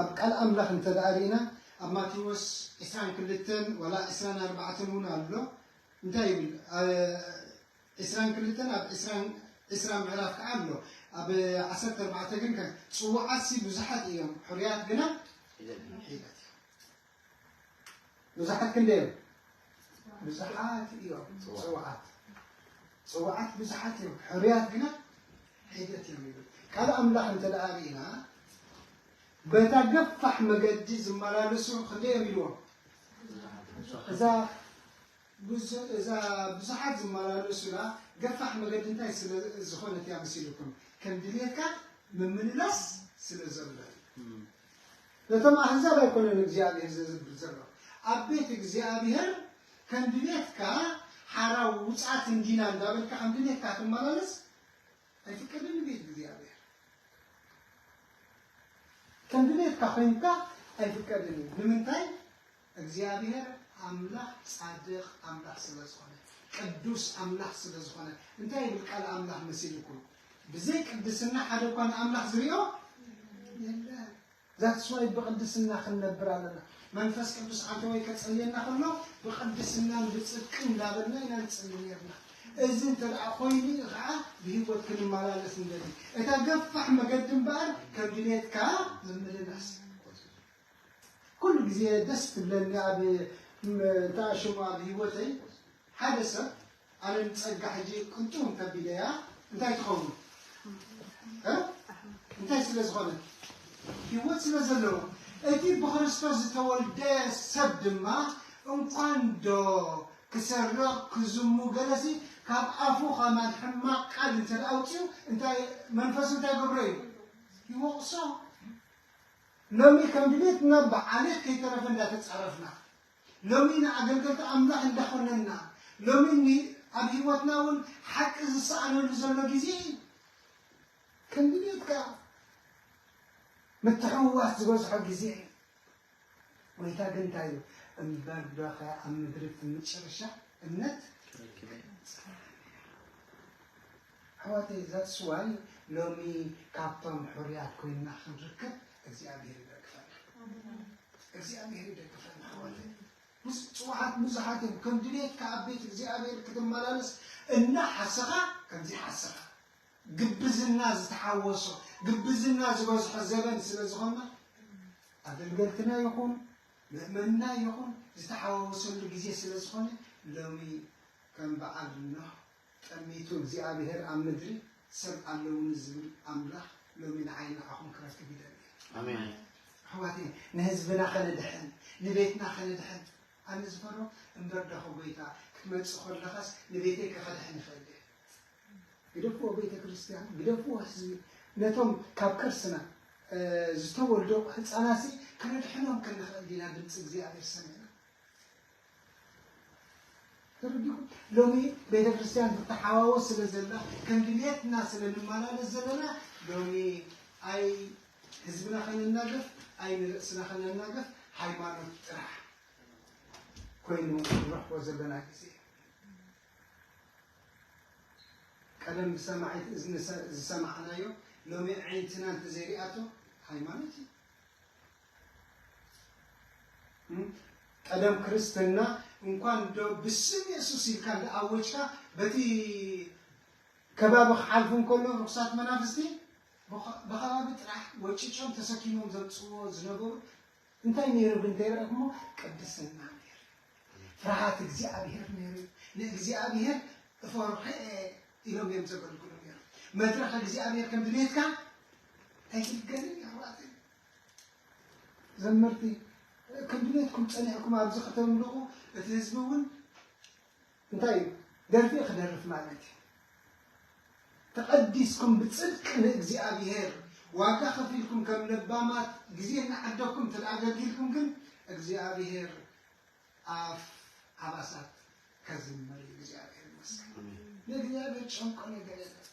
ኣብ ቃል ኣምላኽ እንተ ደኣ ርኢና ኣብ ማቴዎስ ዕስራን ክልተን ዋላ ዕስራን ኣርባዕተን እውን ኣሎ እንታይ ይብል ኣብ ዕስራን ክልተን ኣብ ዕስራን ዕስራ ምዕራፍ ከኣ ኣሎ ኣብ ዓሰርተ ኣርባዕተ ግን ጽዉዓትሲ ብዙሓት እዮም ሕሩያት ግና ሒደት እዮም። ብዙሓት ክንደይ እዮም? ብዙሓት እዮም ፅዋዓት ፅዋዓት ብዙሓት እዮም ሕሩያት ግና ሒደት እዮም ይብል ቃል ኣምላኽ እንተ ደኣ ርኢና በታ ገፋሕ መገዲ ዝመላለሱ ክንደይ እዮም ኢልዎም እዛ ብዙ- እዛ ብዙሓት ዝመላለሱላ ገፋሕ መገዲ እንታይ ስለ ዝኾነት እያ መሲልኩም ከም ድልየትካ ምምልላስ ስለ ዘሎ እዩ። ነቶም ኣህዛብ ኣይኮነን እግዚኣብሄር ዘዝብር ዘሎ ኣብ ቤት እግዚኣብሄር ከም ድሌትካ ሓራ ውጻት እንዲና እንዳበልካ ከም ድሌትካ ትመላለስ ኣይፍቀድን ንቤት እግዚኣብሄር ከም ድሌትካ ኮይንካ ኣይፍቀድን እዩ ንምንታይ እግዚኣብሔር ኣምላክ ጻድቅ ኣምላክ ስለ ዝኮነ ቅዱስ ኣምላክ ስለ ዝኮነ እንታይ ይብል ቃል ኣምላክ መሲልኩም ብዘይ ቅድስና ሓደ እኳ ንኣምላክ ዝሪኦ የለን ዛትስ ዋይ ብቅድስና ክንነብር ኣለና መንፈስ ቅዱስ ኣተወይ ከጸልየና ከሎ ብቅድስናን ብጽድቅን እንዳበልና ኢና ንጽሊ ነርና እዚ እንተ ደኣ ኮይኑ እዩ ከዓ ብህይወት ክንመላለስ ንደሊ እታ ገፋሕ መገዲ እምበኣር ከም ድሌትካ ምምልላስ ኩሉ ግዜ ደስ ትብለኒ ኣብ እንታይ ሽሙ ኣብ ሂወተይ ሓደ ሰብ ኣነ ንጸጋ ሕጂ ቅንጡ እንተቢለያ እንታይ ትኸውን እ እንታይ ስለ ዝኾነት ሂወት ስለ ዘለዎ እቲ ብክርስቶስ ዝተወልደ ሰብ ድማ እንኳን ዶ ክሰርቕ ክዝሙ ገለሲ ካብ ኣፉ ከማን ሕማቕ ቃል እንተ ኣውፅኡ እንታይ መንፈሱ እንታይ ገብሮ እዩ ይወቕሶ ሎሚ ከም ድሌትና ብዓሌት ከይተረፈ እንዳተጻረፍና፣ ሎሚ ንኣገልገልቲ ኣምላኽ እንዳኾነንና፣ ሎሚ ን ኣብ ህይወትና ውን ሓቂ ዝሰኣነሉ ዘሎ ግዜ ኢዩ። ከም ድሌትካ ምትሕውዋስ ዝበዝሖ ግዜ ኢዩ። ጎይታ ግን እንታይ ኢሉ፣ እምበር ዶኸ ኣብ ምድሪ እቲ ምጭርሻ እምነት ረኪበ? ኣሕዋተይ that's why ሎሚ ካብቶም ሑሩያት ኮይንና ክንርከብ እግዚኣብሄር ይደግፈና እግዚኣብሄር ይደግፈና ኣሕዋተይ ብፅዋዓት ብዙሓት እዮም ከም ድሌትካ ኣብ ቤት እግዚኣብሄር ክትመላለስ እናሓሰኻ ከምዚ ሓሰኻ ግብዝና ዝተሓወሶ ግብዝና ዝበዝሖ ዘበን ስለ ዝኾና ኣገልገልትና ይኹን ምእመንና ይኹን ዝተሓዋወሰሉ ግዜ ስለ ዝኾነ ሎሚ ከም በዓል ኖህ ጠሚቱ እግዚኣብሄር ኣብ ምድሪ ሰብ ኣለዉኒ ዝብል ኣምላኽ ሎሚ ንዓይን ንዓኹም ክረክብ ይደሊ እዩ። ኣሜን። ኣሕዋተይ ንህዝብና ከነድሕን ንቤትና ከነድሕን ኣነ ዝፈሮ እምበር ዳኹ ጎይታ ክትመጽእ ከለኻስ ንቤተይ ከኸድሕን ይኽእል እየ። ግደፍዎ ቤተ ክርስቲያን ግደፍዎ ህዝቢ ነቶም ካብ ከርስና እ፣ ዝተወልዱ ህፃናሲ ከነድሕኖም ክንኽእል ዲና ድምፂ እግዚኣብሔር ሰሚዕና ተረዲእኩም ሎሚ ቤተክርስትያን ትተሓዋወስ ስለ ዘላ ከም ድልየትና ስለ ንመላለስ ዘለና ሎሚ ኣይ ህዝብና ከነናግፍ ኣይ ንርእስና ከነናግፍ ሃይማኖት ጥራሕ ኮይኑ ንረኽቦ ዘለና ግዜ ቀደም ብሰማዒት እዝኒ ዝሰማዕናዮ ሎሚ ዓይንትና እንተዘይሪኣቶ ሃይማኖት እዩ ቀደም ክርስትና እንኳን ዶ ብስም የሱስ ኢልካ እንዳ ኣወጅካ በቲ ከባቢ ክሓልፉ እንከሎ ርኩሳት መናፍስቲ ብከባቢ ጥራሕ ወጭጮም ተሰኪሞም ዘምጽዎ ዝነበሩ እንታይ ነይሩ ብእንተይረ እሞ ቅድስና ነይሩ ፍርሃት እግዚኣብሔር ነይሩ ንእግዚኣብሔር እፈርሐ ኢሎም እዮም ዘገልግሉ ነይሩ መድረኽ እግዚኣብሔር ከም ድሌትካ ኣይትልገልን ኣሕዋተይ ዘመርቲ ከም ድሌትኩም ጸኒዕኩም ኣብዚ ከተምልቑ እቲ ህዝቢ እውን እንታይ እዩ ደርፊ ክደርፍ ማለት እዩ ተቐዲስኩም ብጽድቂ ንእግዚኣብሔር ዋጋ ከፊልኩም ከም ለባማት ግዜ እናዓደኩም እንተ ኣገልጊልኩም ግን እግዚኣብሔር ኣፍ ኣብ ኣሳት ከዝምር እዩ እግዚኣብሔር ይመስገን ንእግዚኣብሔር ጨንቆ ነገር የለን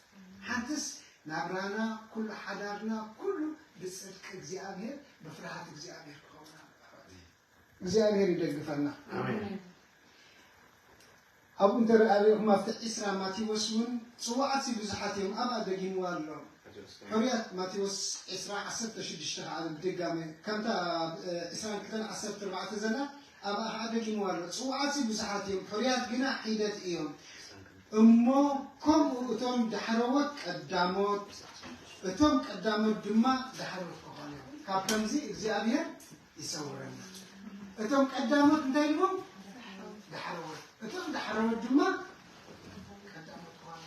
ሓንትስ ናብራና ኩሉ ሓዳርና ኩሉ ብፅድቂ እግዚኣብሔር ብፍርሃት እግዚኣብሔር ክኸውን ኣለዎ ኣሕዋተይ እግዚኣብሔር ይደግፈና ኣሜን ኣብኡ እንተ ርኣሪኹም ኣብቲ ዕስራ ማቴዎስ እውን ጽዋዓትሲ ብዙሓት እዮም ኣብኣ ደጊምዋ ኣሎ ሕሩያት ማቴዎስ ዕስራ ዓሰርተ ሽዱሽተ ከኣ ብድጋመ ከምታ ኣብ ዕስራን ክልተን ዓሰርተ ኣርባዕተ ዘላ ኣብኣ ከኣ ደጊምዋ ኣሎ ጽዋዓትሲ ብዙሓት እዮም ሕሩያት ግና ሒደት እዮም እሞ ከምኡ እቶም ዳሕረዎት ቀዳሞት እቶም ቀዳሞት ድማ ዳሕረዎት ክኾኑ እዮም ካብ ከምዚ እግዚኣብሔር ይሰውረና እቶም ቀዳሞት እንታይ ኢልዎም ዳሕረዎት እቶም ዳሕረዎት ድማ ቀዳሞት ኾኑ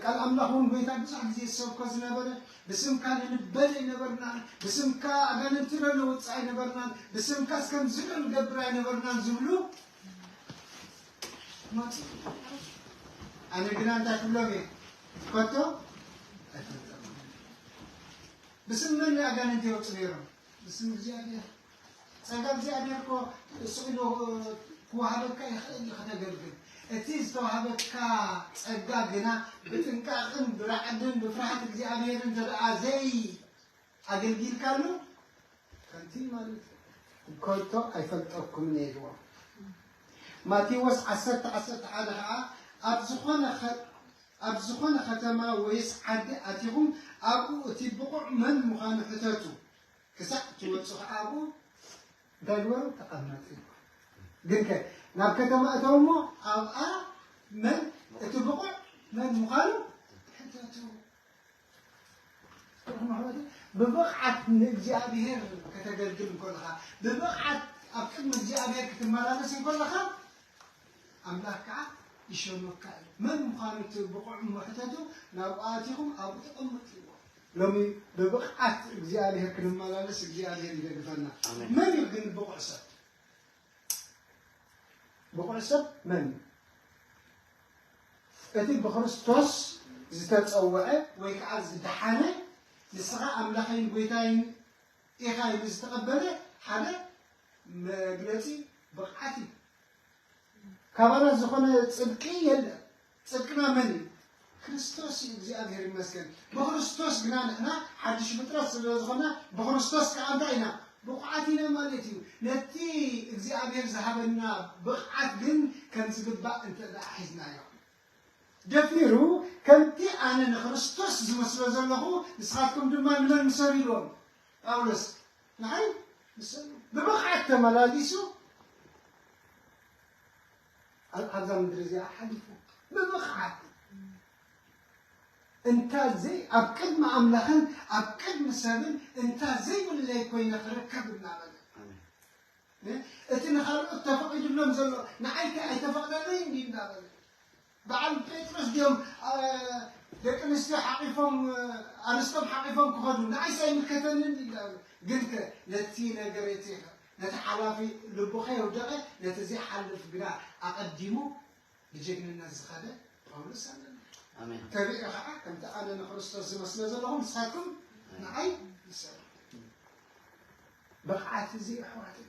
ቃል ኣምላኽ እውን ጎይታ ብዙሕ ግዜ ዝሰብኮ ዝነበረ ብስምካ ንንበል ኣይነበርናን ብስምካ ኣጋንንቲ ነውፅእ ኣይነበርናን ብስምካ እስከምዚ ንገብር ኣይነበርናን ዝብሉ ኣነ ግና እንታይ ክብሎም እየ ከቶ ኣይፈልጠም ብስም መን ኣጋንንቲ የውፅ ነይሮም ብስም እግዚኣብሔር ጸጋ እግዚኣብሔር እኮ ስኢሉ ክወሃበካ ይኽእል እዩ ከተገልግል እቲ ዝተዋሃበካ ጸጋ ግና ብጥንቃቕን ብራዕድን ብፍርሃት እግዚኣብሔርን ተደኣ ዘይ ኣገልጊልካ ኣሎ ከምቲ ማለት እዩ ከቶ ኣይፈልጠኩምን ኢልዎም ማቴዎስ ዓሰርተ ዓሰርተ ሓደ ከዓ ኣብ ዝኾነ ኣብ ዝኾነ ከተማ ወይስ ዓዲ ኣቲኹም ኣብኡ እቲ ብቑዕ መን ምዃኑ ሕተቱ ክሳዕ ትወፁ ከዓ ኣብኡ እንታይ ግበሩ ተቐመጡ ግን ከ ናብ ከተማ እተው እሞ ኣብኣ መን እቲ ብቑዕ መን ምዃኑ ሕተቱ ብብቕዓት ንእግዚኣብሔር ከተገልግል እንኮለኻ ብብቕዓት ኣብ ቅድሚ እግዚኣብሔር ክትመላለስ እንኮለኻ ኣምላክ ከዓ ይሸመካ እዩ መን ምዃኑ እቲ ብቑዕ መሕተቱ ናብኡ ኣቲኹም ኣብኡ ተቐምጥዎ ሎሚ ብብቕዓት እግዚኣብሔር ክንመላለስ እግዚኣብሔር ይደግፈና መን እዩ ግን ብቑዕ ሰብ ብቑዕ ሰብ መን እዩ እቲ ብክርስቶስ ዝተጸውዐ ወይ ከኣ ዝደሓነ ንስኻ ኣምላኸይን ጐይታይን ኢኻ ኢሉ ዝተቐበለ ሓደ መግለጺ ብቕዓት እዩ። ካባና ዝኾነ ጽድቂ የለን። ጽድቅና መን እዩ? ክርስቶስ እዩ። እግዚኣብሔር ይመስገን። ብክርስቶስ ግና ንሕና ሓድሽ ፍጥረት ስለ ዝኾንና ብክርስቶስ ከኣ እንታይ ኢና? ብቑዓት ኢና ማለት እዩ። ነቲ እግዚኣብሔር ዝሃበና ብቕዓት ግን ከም ዝግባእ እንተ ደኣ ሒዝናዮ፣ ደፊሩ ከምቲ ኣነ ንክርስቶስ ዝመስሎ ዘለኹ ንስኻትኩም ድማ ንመን ምሰሉ ኢልዎም? ጳውሎስ ንዓይ ምሰሉ። ብብቕዓት ተመላሊሱ። ኣብዛ ምድሪ እዚኣ ሓሊፉ ብብቕዓት እንታ ዘይ ኣብ ቅድሚ ኣምላኽን ኣብ ቅድሚ ሰብን እንታ ዘይብለይ ኮይነ ክርከብ እናበለ እቲ ንኻልኦት ተፈቒድሎም ዘሎ ንዓይ ከ ኣይተፈቕደለይ እንዲ እናበለ በዓል ጴጥሮስ ድዮም ደቂ ኣንስትዮ ሓቂፎም ኣንስቶም ሓቂፎም ክኸዱ ንዓይስ ኣይምልከተንን እንዲ እናበለ ግን ከ ነቲ ነገር እቲ ነቲ ሓላፊ ልቡ ከየውደቐ ነቲ ዘይሓልፍ ግና ኣቐዲሙ ብጀግንነት ዝኸደ ጳውሎስ ኣለና። ተቢዑ ኸዓ ከምቲ ኣነ ንክርስቶስ ዝመስለ ዘለኹ ንሳትኩም ንዓይ ምሰሉ። ብቕዓት እዚ እዩ ኣሕዋተይ፣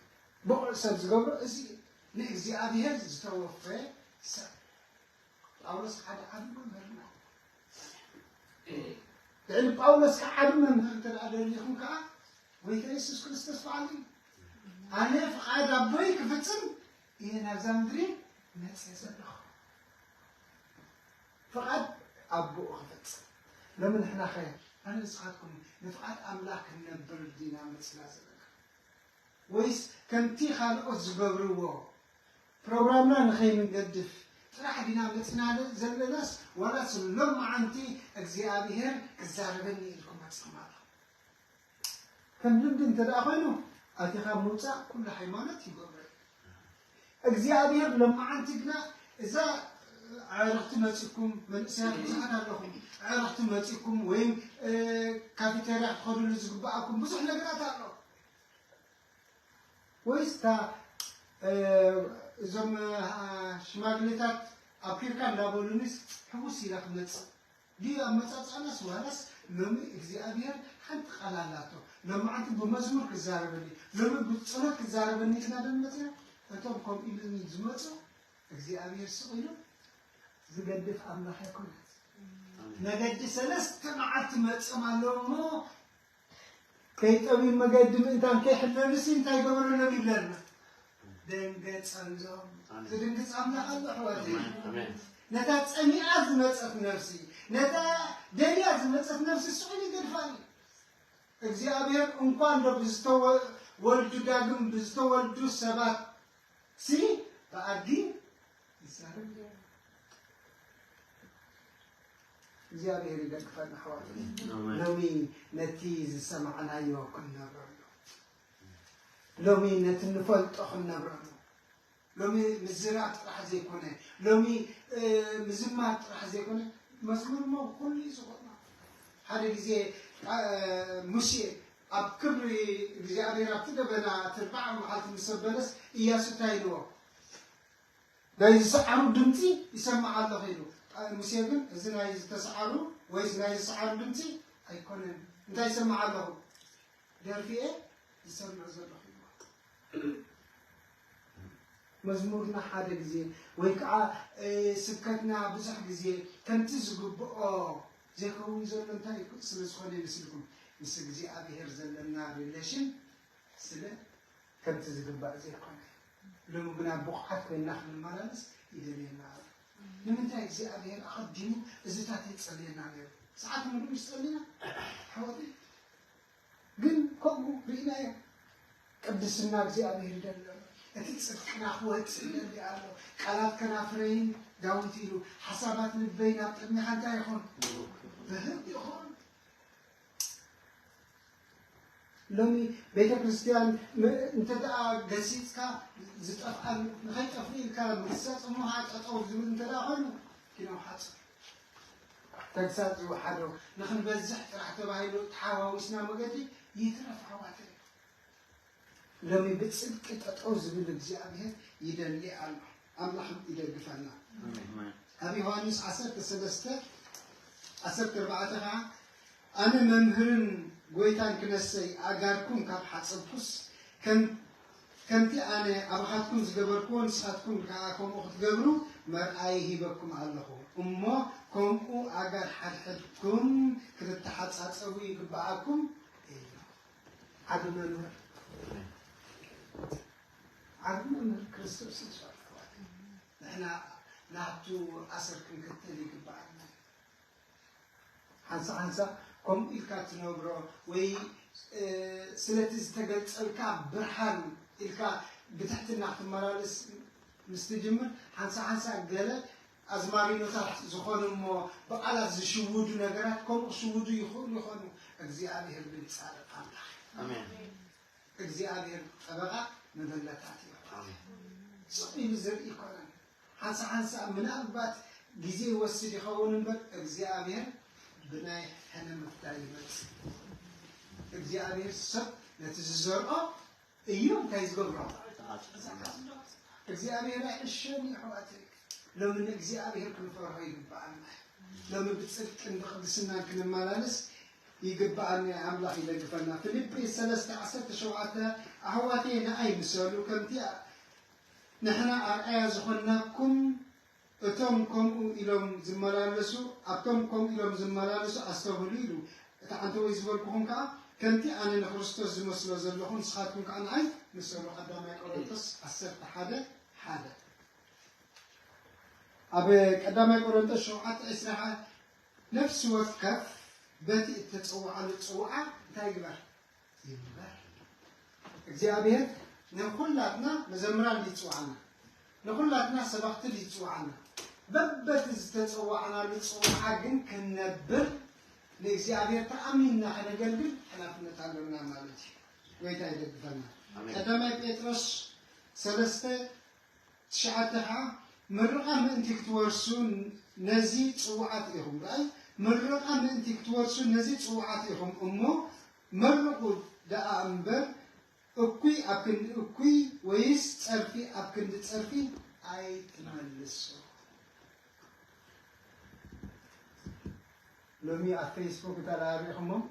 ብቑዕ ሰብ ዝገብሮ እዚ እዩ፣ ንእግዚኣብሄር ዝተወፈየ ሰብ ጳውሎስ ሓደ ዓቢ መምህርና ልዕሊ ጳውሎስ ከዓ ዓቢ መምህር እንተ ደሊኹም ከዓ ጎይታ የሱስ ክርስቶስ በዓል እዩ ኣነ ፍቓድ ኣቦይ ክፍፅም እየ ናብዛ ምድሪ መፅ ዘለኹ ፍቓድ ኣቦኡ ክፈፅም ሎሚ ንሕና ኸ ኣነ ንስኻትኩም ንፍቓድ ኣምላኽ ክንነብር ዲና መፅና ዘለና ወይስ ከምቲ ካልኦት ዝገብርዎ ፕሮግራምና ንኸይንገድፍ ጥራሕ ዲና መፂናለ ዘለናስ ዋላስ ሎማዓንቲ እግዚኣብሔር ክዛረበኒ ኢልኩም መፂኹም ኣለኹም ከም ልምዲ እንተ ኮይኑ ኣቲኻ ምውፃእ ኩሉ ሃይማኖት ይገብሮ እዩ እግዚኣብሔር ሎማዓንቲ ግና እዛ ዕረፍቲ መፂኩም መንእሰያት ብዙሓት ኣለኹም ዕረፍቲ መፂኩም ወይም ካፊተርያ ክትኸድሉ ዝግበኣኩም ብዙሕ ነገራት ኣሎ ወይስ እታ እዞም ሽማግሌታት ኣብኪርካ እንዳበሉኒስ ሕጉስ ኢለ ክመጽእ ድዩ ኣመጻጽኣናስ ዋላስ ሎሚ እግዚኣብሄር ሓንቲ ቃል ኣላቶ ሎማዓንቲ ብመዝሙር ክዛረበኒ ሎሚ ብጸሎት ክዛረበኒ ኢልና ዶ ንመጽና እቶም ከምኡ ኢሉኒ ዝመጹ እግዚኣብሄር ስቕ ኢሉ ዝገድፍ ኣምላኽ ኣይኮነን መገዲ ሰለስተ መዓልቲ መጽም ኣለዉ እሞ ከይጠምዩ መገዲ ምእንታን ከይሕለሉሲ እንታይ ገበረሎም ይብለና። ደንገጸሎም። ዝድንግጽ ኣምላኽ ኣሎ ኣሕዋተይ። ነታ ጸሚኣ ዝመጸት ነፍሲ ነታ ደልያ ዝመጸት ነፍሲ ስዑል ይገድፋል እዩ። እግዚኣብሔር እንኳን ዶ ብዝተወልዱ ዳግም ብዝተወልዱ ሰባት ሲ ብኣድጊ ይዛረብ እዩ። እግዚኣብሔር ይደግፈና ኣሕዋተይ ሎሚ ነቲ ዝሰማዕናዮ ክንነብረሉ ሎሚ ነቲ ንፈልጦ ክንነብረሉ ሎሚ ምዝራብ ጥራሕ ዘይኮነ ሎሚ ምዝማር ጥራሕ ዘይኮነ መዝሙር ሞ ኩሉ እዩ ዝኾና ሓደ ግዜ ሙሴ ኣብ ክብሪ እግዚኣብሔር ኣብቲ ደበና እቲ ኣርባዓ መዓልቲ ምስ ኣበለስ እያሱ እንታይ ኢልዎ ናይ ዝሰዓሩ ድምጺ ይሰማዕ ኣሎ ኢሉ። ቃል ሙሴ ግን እዚ ናይ ዝተሰዓሩ ወይስ ናይ ዝሰዓሩ ድምጺ ኣይኮነን፣ እንታይ ይሰምዕ ኣለኹ? ደርፊ'የ ዝሰምዕ ዘለኹ ኢልዎ። መዝሙርና ሓደ ግዜ ወይ ከኣ ስብከትና ብዙሕ ግዜ ከምቲ ዝግብኦ ዘይከውን ዘሎ እንታይ ስለ ዝኾነ ይመስልኩም? ምስ እግዚኣብሄር ዘለና ሪሌሽን ስለ ከምቲ ዝግባእ ዘይኮነ ሎሚ ግና ብቑዓት ኮይንና ክንመላለስ ይደልየና ኣሎ። ንምንታይ እግዚኣብሔር ኣቐዲሙ እዝታት የጸልየና ነይሩ ሰዓት ምሉ ምስ ጸሊና ኣሕዋተይ ግን ከምኡ ርኢናዮ ቅድስና እግዚኣብሔር ይደሊ ኣሎ። እቲ ጽድቅና ክወጽእ ይደሊ ኣሎ። ቃላት ከናፍረይን ዳዊት ኢሉ ሓሳባት ልበይ ናብ ቅድሚኻ እንታይ ይኹን ብህግ ይኹን ሎሚ ቤተ ክርስቲያን እንተ ገሲፅካ ዝጠፍኣ ንኸይጠፍ ኢልካ ምግሳፅ እሞ ከዓ ጠጠው ዝብል እንተ ኮይኑ ኪኖ ሓፅር ተግሳፅ ዝወሓዶ ንክንበዝሕ ጥራሕ ተባሂሉ ተሓዋዊስና መገዲ ይትረፍ ዓዋተ ሎሚ ብጽድቂ ጠጠው ዝብል እግዚኣብሔር ይደሊ ኣሎ ኣምላኽ ይደግፈና ኣብ ዮሐንስ ዓሰርተ ሰለስተ ዓሰርተ ኣርባዕተ ከዓ ኣነ መምህርን ጎይታን ክነሰይ ኣእጋርኩም ካብ ሓጸብኩስ ከምቲ ኣነ ኣባኻትኩም ዝገበርክዎ ንስኻትኩም ከዓ ከምኡ ክትገብሩ መርኣይ ሂበኩም ኣለኹ እሞ ከምኡ ኣጋር ሓድሕድኩም ክትተሓጻጸቡ ይግብኣኩም ዓቢ መምህር ዓቢ መምህር ክርስቶስ ኢየሱስ ኣሕዋት ንሕና ናቱ ኣሰር ክንክተል ይግባኣና ሓንሳ ሓንሳ ከምኡ ኢልካ ትነብሮ ወይ እ፣ ስለቲ ዝተገልጸልካ ብርሃን ኢልካ ብትሕትና ክትመላለስ ምስ ትጅምር ሓንሳ ሓንሳ ገለ ኣዝማሪኖታት ዝኾኑ እሞ ብቓላት ዝሽውዱ ነገራት ከምኡ ክሽውዱ ይኽእሉ ይኾኑ፣ እግዚኣብሄር ግን ጻድቕ ኣምላኽ እዩ። ኣሜን። እግዚኣብሄር ጠበቓ መበለታት እዩ። ኣሜን። ስቕ ኢሉ ዝርኢ ኣይኮነን። ሓንሳ ሓንሳ ምናልባት ግዜ ይወስድ ይኸውን እምበር እግዚኣብሄር ብናይ ሕነ ምፍዳይ ይመጽእ። እግዚኣብሄር ሰብ ነቲ ዝዘርኦ እዮም እንታይ ዝገብሩ እግዚኣብሔር ኣይዕሸን እዩ ኣሕዋተይ ሎሚ ንእግዚኣብሔር ክንፈርሆ ይግበኣና ሎሚ ብፅድቅን ብቅድስናን ክንመላለስ ይግበኣና ኣምላኽ ይደግፈና ፊልጵ ሰለስተ ዓሰርተ ሸውዓተ ኣሕዋተይ ንኣይ ምሰሉ ከምቲ ንሕና ኣርኣያ ዝኾንናኩም እቶም ከምኡ ኢሎም ዝመላለሱ ኣብቶም ከምኡ ኢሎም ዝመላለሱ ኣስተብህሉ ኢሉ። እቲ ዓንተቦይ ዝበልኩኹም ከኣ ከምቲ ኣነ ንክርስቶስ ዝመስሎ ዘለኹ ንስኻትኩም ከኣ ንኣይ ምሰሉ ቀዳማይ ቆሮንጦስ ዓሰርተ ሓደ ሓደ። ኣብ ቀዳማይ ቆሮንጦስ ሸውዓተ ዕስራ ከኣ ነፍሲ ወከፍ በቲ እተጸውዓሉ ጽውዓ እንታይ ይግበር? ይግበር እግዚኣብሔር ንኩላትና መዘምራን ድዩ ዝፅውዓና ንኩላትና ሰባክቲ ድዩ ዝፅውዓና በበቲ ዝተፀዋዕናሉ ፅውዓ ግን ክንነብር ንእግዚኣብሔር ተኣሚንና ከነገልግል ሓላፍነት ኣለና ማለት እዩ ጎይታ ይደግፈና ቀዳማይ ጴጥሮስ ሰለስተ ትሽዓተ ከኣ ምርቓ ምእንቲ ክትወርሱ ነዚ ጽዉዓት ኢኹም። ራእይ ምርቓ ምእንቲ ክትወርሱ ነዚ ጽዉዓት ኢኹም እሞ መርቑ ደኣ እምበር እኩይ ኣብ ክንዲ እኩይ ወይስ ጸርፊ ኣብ ክንዲ ጸርፊ ኣይትመልሱ። ሎሚ ኣብ ፈይስቡክ እንተ ርኢኹሞም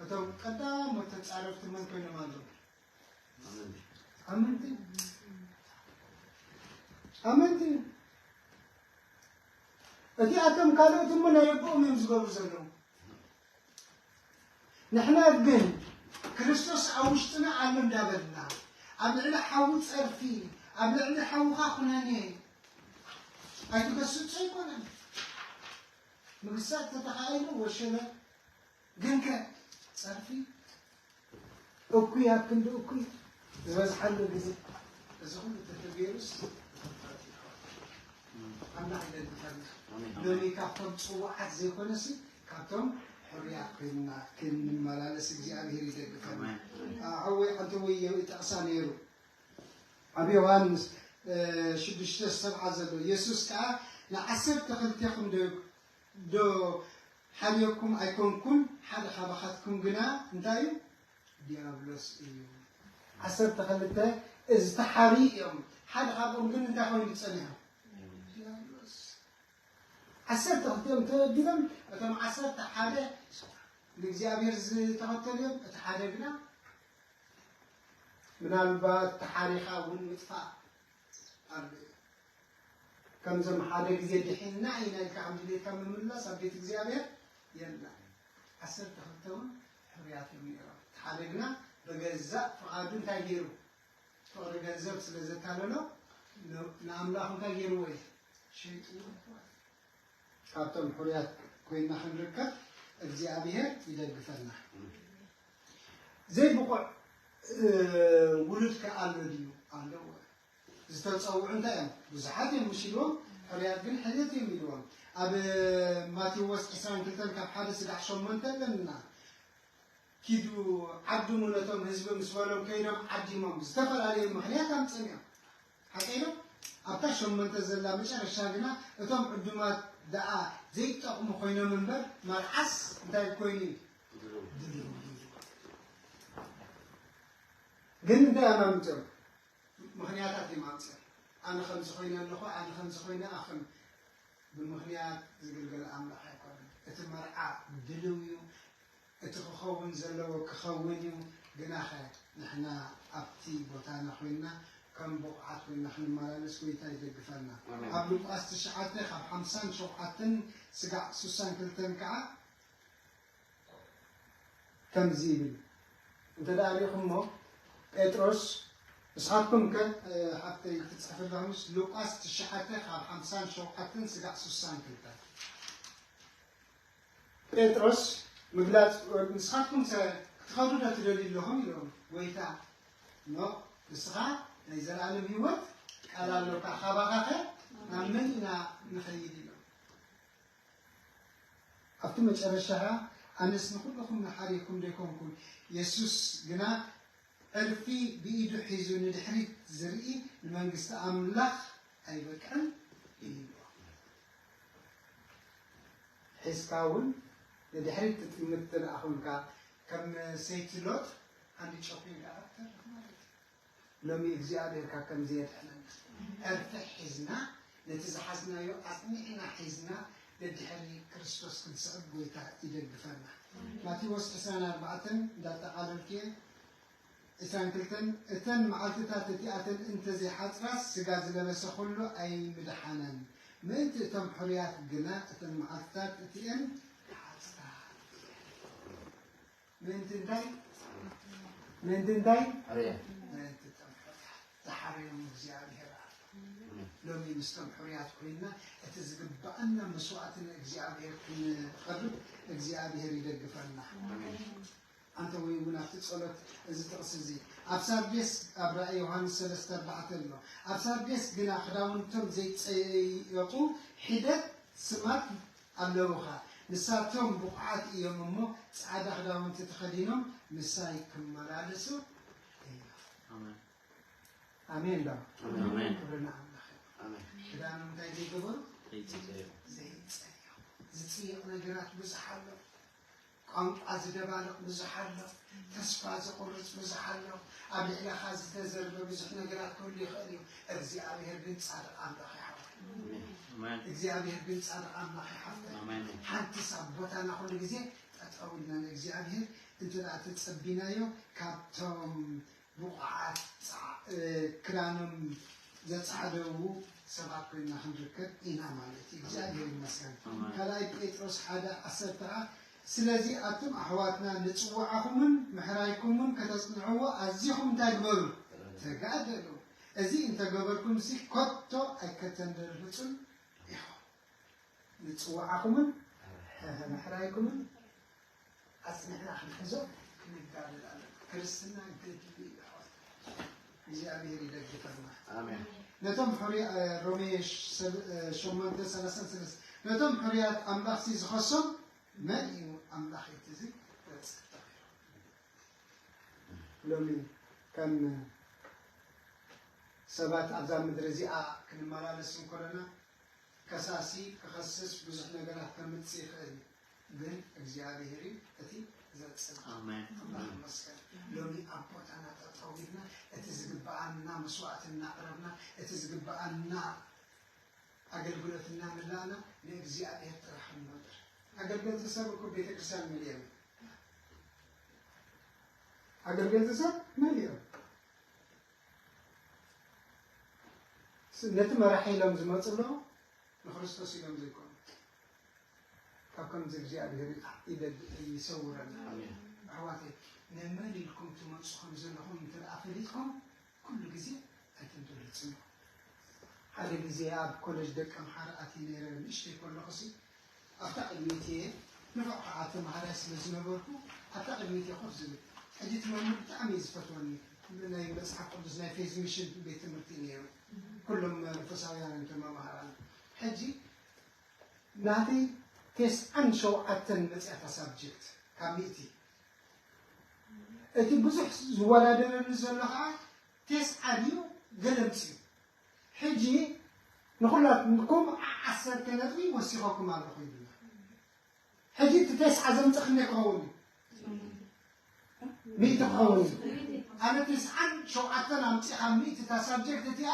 እቶም ቀዳሞት ተጻረፍቲ መን ኮይኖም ኣለዉ? ኣመንቲ ኣመንቲ እቲ ኣቶም ካልኦት እሞ ናይ ኣቦኦም እዮም ዝገብሩ ዘለዉ ንሕና ግን ክርስቶስ ኣብ ውሽጥና ኣሎ እንዳበልና ኣብ ልዕሊ ሓዊ ፀርፊ ኣብ ልዕሊ ሓውኻ ኩነኔ ኣይትገስጹ ኣይኮነን ምግሳጥ ተተኻኢሉ ወሸነ ግንከ ጸርፊ እኩይ ኣብ ክንዲ እኩይ ዝበዝሓሉ ግዜ እዚ ኩሉ ተተገይሩስ ተፈታዊ ይኸውን። ኣምላኽ ይደግፈና። ሎሚ ካብቶም ጽዋዓት ዘይኮነሲ ካብቶም ሕሩያት ኮይንና ክንመላለስ እግዚኣብሄር ይደግፈና። ሓወይ ዓንተወይ ይጠቕሳ ነይሩ ኣብ ዮሃንስ ሽዱሽተ ሰብዓ ዘሎ የሱስ ከኣ ንዓሰርተ ክልቴኹም ዶ ዶ ሓልዮኩም ኣይኮንኩን ሓደ ካባኻትኩም ግና እንታይ እዩ ድያብሎስ እዩ ዓሰርተ ክልተ እዚ ተሓርዩ እዮም ሓደ ካብኦም ግን እንታይ ኮይኑ ጸኒሖም ዓሰርተ ክልቲኦም ተበዲሎም እቶም ዓሰርተ ሓደ ንእግዚኣብሔር ዝተኸተሉ እዮም እቲ ሓደ ግና ምናልባት ተሓሪኻ እውን ምጥፋእ ኣሎ ከምዞም ሓደ ግዜ ድሒንና ኢና ኢልካ ከም ድሌትካ ምምልላስ ኣብ ቤት እግዚኣብሔር የላን። ዓሰርተ ክልተ እውን ሕሩያት እዮም ነይሮም። እቲ ሓደ ግና ብገዛእ ፍቓዱ እንታይ ገይሩ ፍቕሪ ገንዘብ ስለ ዘታለሎ ንኣምላኹ እንታይ ገይርዎ እዩ ሸይጥዎ ይኾን። ካብቶም ሕሩያት ኮይና ክንርከብ እግዚኣብሔር ይደግፈና። ዘይብቑዕ ውሉድ ከ ኣሎ ድዩ? ኣለዎ። ዝተጸውዑ እንታይ እዮም ብዙሓት እዮም ምስ ኢልዎም ሕሩያት ግን ሕልየት እዮም ኢልዎም ኣብ ማቴዎስ ዕስራን ክልተን ካብ ሓደ ስጋዕ ሸሞንተ ኣለና ኪዱ ዓድሙ ነቶም ህዝቢ ምስ በሎም ከይዶም ዓዲሞም ዝተፈላለዩ ምክንያት ኣምፅም እዮም ሓቀይ ዶ ኣብታ ሸሞንተ ዘላ መጨረሻ ግና እቶም ዕዱማት ደኣ ዘይጠቕሙ ኮይኖም እምበር መርዓስ እንታይ ኮይኑ እዩ ግን እንታይ ኣማምፅኦም ምኽንያታት እዩም ኣምጽእ ኣነ ከምዚ ኮይነ ኣለኹ ኣነ ከምዚ ኮይነ ኣኽም ብምኽንያት ዝግልገል ኣምላኽ ኣይኮነን እቲ መርዓ ድልው እዩ እቲ ክኸውን ዘለዎ ክኸውን እዩ ግናኸ ንሕና ኣብቲ ቦታና ኮይንና ከም ብቑዓት ኮይንና ክንመላለስ ጎይታ ይደግፈና ኣብ ሉቃስ ትሽዓተ ካብ ሓምሳን ሸውዓተን ስጋዕ ስሳን ክልተን ከኣ ከምዚ ይብል እንተ ርኢኹምዎ፣ ጴጥሮስ፣ ንስኻትኩምከ ሓፍተይ ትጽሕፊ ኣለኹምስ፣ ሉቃስ ትሽዓተ ካብ ሓምሳን ሸውዓተን ስጋዕ ስሳን ክልተን፣ ጴጥሮስ ምግላጽ ንስኻትኩምከ ክትኸዱዶ ትደልዩ ኣለኹም ኢሎም፣ ጐይታ፣ ኖእ ንስኻ ናይ ዘለኣለም ህይወት ቃል ኣሎካ፣ ካባኻኸ ናብ መን ኢና ንኸይድ ኢሎም። ኣብቲ መጨረሻ ከኣ ኣነስ ንኹልኹም መሓሪኩም ደይኮንኩን የሱስ ግና ዕርፊ ብኢዱ ሒዙ ንድሕሪት ዝርኢ ንመንግስቲ ኣምላኽ ኣይበቅዕን እዩ ኢልዎ። ሒዝካ እውን ንድሕሪት ትጥምት እንተደኣ ኮንካ ከም ሰይቲ ሎጥ ሃንዲ ጨኲንካ እኻ ትተርፍ ማለት እዩ። ሎሚ እግዚኣብሔር ካብ ከምዚ የድሕነና ዕርፊ ሒዝና ነቲ ዝሓዝናዮ ኣጽኒዕና ሒዝና ደድሕሪ ክርስቶስ ክንስዕብ ጎይታ ይደግፈና ማቴዎስ ዕስራን ኣርባዕተን እንዳጠቓለልኩየ ዕስራን ክልተን እተን መዓልትታት እቲኣተን እንተዘይሓጽራስ ስጋ ዝለበሰ ኩሉ ኣይምድሓነን ምእንቲ እቶም ሕሩያት ግና እተን መዓልትታት እቲኤን ክሓጽራ እየን። ምእንቲ እንታይ ምእንቲ እንታይ ምእንቲ እቶም ሕሩያት ዝሓረዮም እግዚኣብሄር ኣሎ ሎሚ ምስቶም ሕሩያት ኮይንና እቲ ዝግብኣና መስዋእቲ ንእግዚኣብሄር ክንቐርብ እግዚኣብሄር ይደግፈና ኣንተ ወይ እውን ኣብቲ ጸሎት እዚ ጥቕሲ እዚ ኣብ ሳርዴስ ኣብ ራእይ ዮሃንስ ሰለስተ ኣርባዕተ ኣሎ ኣብ ሳርዴስ ግና ክዳውንቶም ዘይጸየቁ ሒደት ስማት ኣለዉኻ ንሳቶም ብቑዓት እዮም እሞ ጻዕዳ ክዳውንቲ ተኸዲኖም ምሳይ ክመላለሱ እዮም ኣሜን ዶ ክብሪ ንኣምላኽ ክዳኖም እንታይ ዘይገበሩ ዘይጸዮ ዝጽየቕ ነገራት ብዙሕ ኣሎ ቋንቋ ዝደባልቕ ብዙሕ ኣሎ፣ ተስፋ ዘቑርጽ ብዙሕ ኣሎ፣ ኣብ ልዕለኻ ዝተዘርበ ብዙሕ ነገራት ክህሉ ይኽእል እዩ፣ እግዚኣብሄር ግን ጻድቕ ኣምላኽ እዩ ሓፍተይ፣ እግዚኣብሄር ግን ጻድቕ ኣምላኽ እዩ ሓፍተይ፣ ሓንትስ ኣብ ቦታና ኩሉ ግዜ ጠጠው ኢልና ንእግዚኣብሄር እንተድኣ ተጸቢናዮ ካብቶም ብቑዓት ክዳኖም ዘጻዕደዉ ሰባት ኮይና ክንርከብ ኢና ማለት እዩ። እግዚኣብሔር ይመስገን። ካልኣይ ጴጥሮስ ሓደ ዓሰርተ ከኣ ስለዚ ኣቱም ኣሕዋትና ንጽዋዓኹምን ምሕራይኩምን ከተጽንዕዎ ኣዚኹም እንታይ ግበሩ ተጋደሉ እዚ እንተገበርኩምሲ ከቶ ኣይከተንደርህጹን ኢኹም ንጽዋዓኹምን ምሕራይኩምን ኣጽኒዕና ክንሕዞ ክንጋደል ኣለና። ክርስትና ገድሊ እዩ ኣሕዋት። እግዚኣብሔር ይደግፈና። ኣሜን። ነቶም ሕሩያ- እ፣ ሮሜ ሽ- ሰብ- እ፣ ሸሞንተ ሰላሳን ሰለስተ ነቶም ሕሩያት ኣምላኽ ሲ ዝኸሶም መን እዩ ኣምላኽ እቲ እዚ ዘጽድቕ? ሎሚ ከም ሰባት ኣብዛ ምድሪ እዚኣ ክንመላለስ እንኮለና ከሳሲ ክኸስስ ብዙሕ ነገራት ከምጽእ ይኽእል እዩ። ግን እግዚኣብሔር እዩ እቲ ዘጽንዕ ኣሜን ኣምላኽ ይመስገን ሎሚ ኣብ ቦታና ጠጠው ኢልና እቲ ዝግብኣና መስዋዕቲ እናቕረብና እቲ ዝግብኣና ኣገልግሎት እናመላእና ንእግዚኣብሔር ጥራሕ ንነብር ኣገልገልቲ ሰብ እኮ ቤተክርስትያን መሊኦም ኣገልገልቲ ሰብ መሊኦም ነቲ መራሒ ኢሎም ዝመፁ ኣለዉ ንክርስቶስ ኢሎም ዘይኮኑ ካብ ከምዚ እግዚኣብሔር ይደል ይሰውረና ኣሕዋተይ ንመን ኢልኩም ትመጹ ከም ዘለኹም እንተ ደኣ ፈሊጥኩም ኩሉ ግዜ ኣይትድረጽኑ ሓደ ግዜ ኣብ ኮለጅ ደቂ ኣምሓራ ኣትየ ነይረ ንእሽተይ ከለኹሲ ኣብታ ቅድሚት እየ ንፉዕ ከዓ ተምሃራይ ስለ ዝነበርኩ ኣብታ ቅድሚት እየ ኮፍ ዝብል ሕጂ እቲ መምህር ብጣዕሚ እዩ ዝፈትወኒ ናይ መጽሓፍ ቅዱስ ናይ ፌዝ ሚሽን ቤት ትምህርቲ እዩ ነይሩ ኩሎም መንፈሳውያን እንተመምሃራን ሕጂ ናተይ ቴስዓን ሸውዓተን መጺኣታ ሳብጀክት ካብ ሚእቲ እቲ ብዙሕ ዝወዳደረኒ ዘሎ ከኣ ቴስዓ ድዩ ገለ ምስዩ ሕጂ ንኹላትኩም ዓዓሰርተ ነጥቢ ወሲኸኩም ኣለኹ ይብላ ሕጂ እቲ ቴስዓ ዘምጽእ ክንደይ ክኸውን እዩ ሚእቲ ክኸውን እዩ ኣነ ቴስዓን ሸውዓተን ኣምጺኻ ሚእቲ እታ ሳብጀክት እቲኣ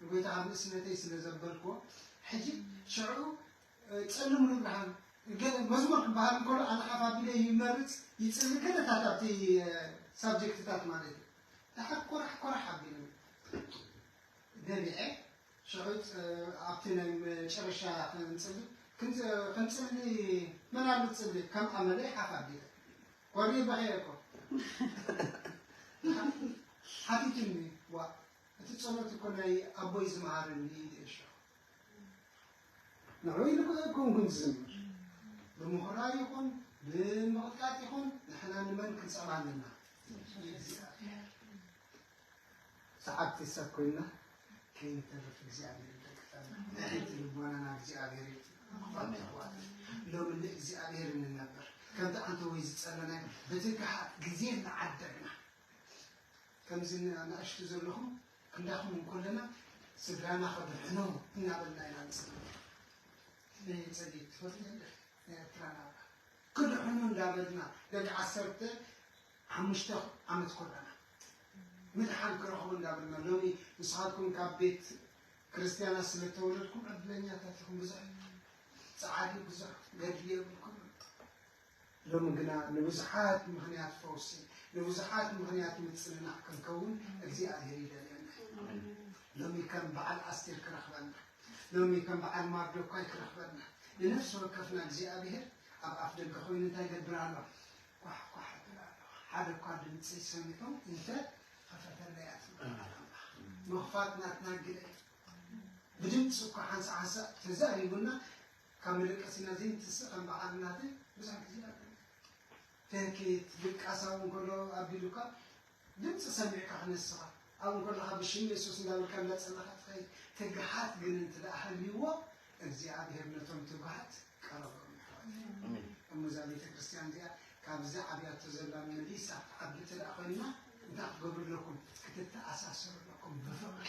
ንጎይታ ኣብ ንእስነተይ ስለ ዘበልክዎ ሕጂ ሽዑ ጸልም ንብርሃን ገለ መዝሙር ክበሃል እንከሎ ኣነ ሓፍ ኣቢለ ይመርጽ ይጽሊ ገለታት ኣብቲ ሳብጀክትታት ማለት እዩ ደሓር ኮራሕ ኮራሕ ኣቢሉ ነቢዐ ሽዑ ኣብቲ ናይ መጨረሻ ክንጽሊ ክንጽሊ መን ኣሎ ትጽሊ ከም ኣመለይ ሓፍ ኣቢለ ኮሪ በኸየ እኮ ሓቲቱኒ ዋ እቲ ጸሎት እኮ ናይ ኣቦይ ዝመሃረኒ እዩ ኢለ ሸኹ ንዑ ኢሉ ኮንኩም ዝዝምር ብምኹራይ ይኹን ብምቕጥቃጥ ይኹን ንሕና ንመን ክንጸባ ኣለና ሰዓብቲ ሰብ ኮይና ከይንተርፍ እግዚኣብሔር ይጠቅጠና ንሕቲ ልቦናና እግዚኣብሔር ይጠቅጠና ይሕዋት ሎሚ ንእግዚኣብሔር እንነበር ከምቲ ኣንተ ወይ ዝጸለናዮ በቲ ግዜ እናዓደግና ከምዚ ን ኣናእሽቱ ዘለኹም ክንዳኹም እንኮለና ስድራና ከድሕኖም እናበልና ኢና ንጽሊ ነይ ጸሊት ትፈልጥ ደ ኤርትራ ናብራ ክድሕኑ እንዳበልና ደቂ ዓሰርተ ሓሙሽተ ዓመት ኮለና ምድሓን ክረኽቡ እንዳበልና ሎሚ ንስኻትኩም ካብ ቤት ክርስትያና ስለ ተወለድኩም ዕድለኛታት ኢኹም ብዙሕ ጸዓዲ ብዙሕ ገድሊ የብልኩም ሎሚ ግና ንብዙሓት ምኽንያት ፈውሲ፣ ንብዙሓት ምኽንያት ምጽንናዕ ክንከውን እግዚኣብሔር ይደልየና እዩ። ሎሚ ከም በዓል ኣስቴር ክረኽበና፣ ሎሚ ከም በዓል ማርዶካይ ክረኽበና፣ ንነፍሲ ወከፍና እግዚኣብሔር ኣብ ኣፍ ደገ ኮይኑ እንታይ ይገብር ኣሎ? ኳሕ ኳሕ ይብል ኣሎ። ሓደ እኳ ድምፀይ ሰሚዑ እንተ ኸፈተለይ እያ ትብል ቃል ኣምላኽ። ምኽፋት ናትና ግደ እዩ። ብድምፂ እኳ ሓንሳእ ሓንሳእ ተዛሪቡና ካብ መደቀሲና ዘይንትስእ ከም በዓል እናተ ብዙሕ ግዜ ኣቢሉ ትህኪት ድቃስ ኣብኡ እንከሎ ኣቢሉካ ድምጺ ሰሚዕካ ክነስኻ ኣብኡ እንከለኻ ብሽም የሱስ እንዳበልካ እንዳጸለኻ ትኸይድ ትግሃት ግን እንትደኣ ሃልይዎ እግዚኣብሄር ነቶም ትጉሃት ቀረቦም ይሕዋት እሞ እዛ ቤተ ክርስቲያን እዚኣ ካብዚ ዓብያቶ ዘላ መሊሳ ትዓቢ ትደኣ ኮይና እንታይ ክገብሩ ኣለኩም ክትተኣሳሰሩ ኣለኩም ብፍቕሪ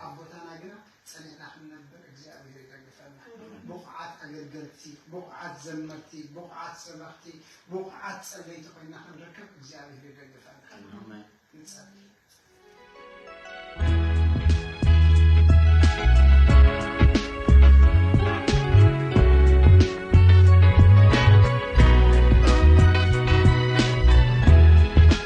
ኣብ ቦታና ግና ጸኒዕና ክንነብር እግዚኣብሄር ይደግፈና። ብቑዓት ኣገልገልቲ፣ ብቑዓት ዘመርቲ፣ ብቑዓት ሰበኽቲ፣ ብቑዓት ጸለይቲ ኮይና ክንርከብ እግዚኣብሄር ይደግፈና። ንጸሊ።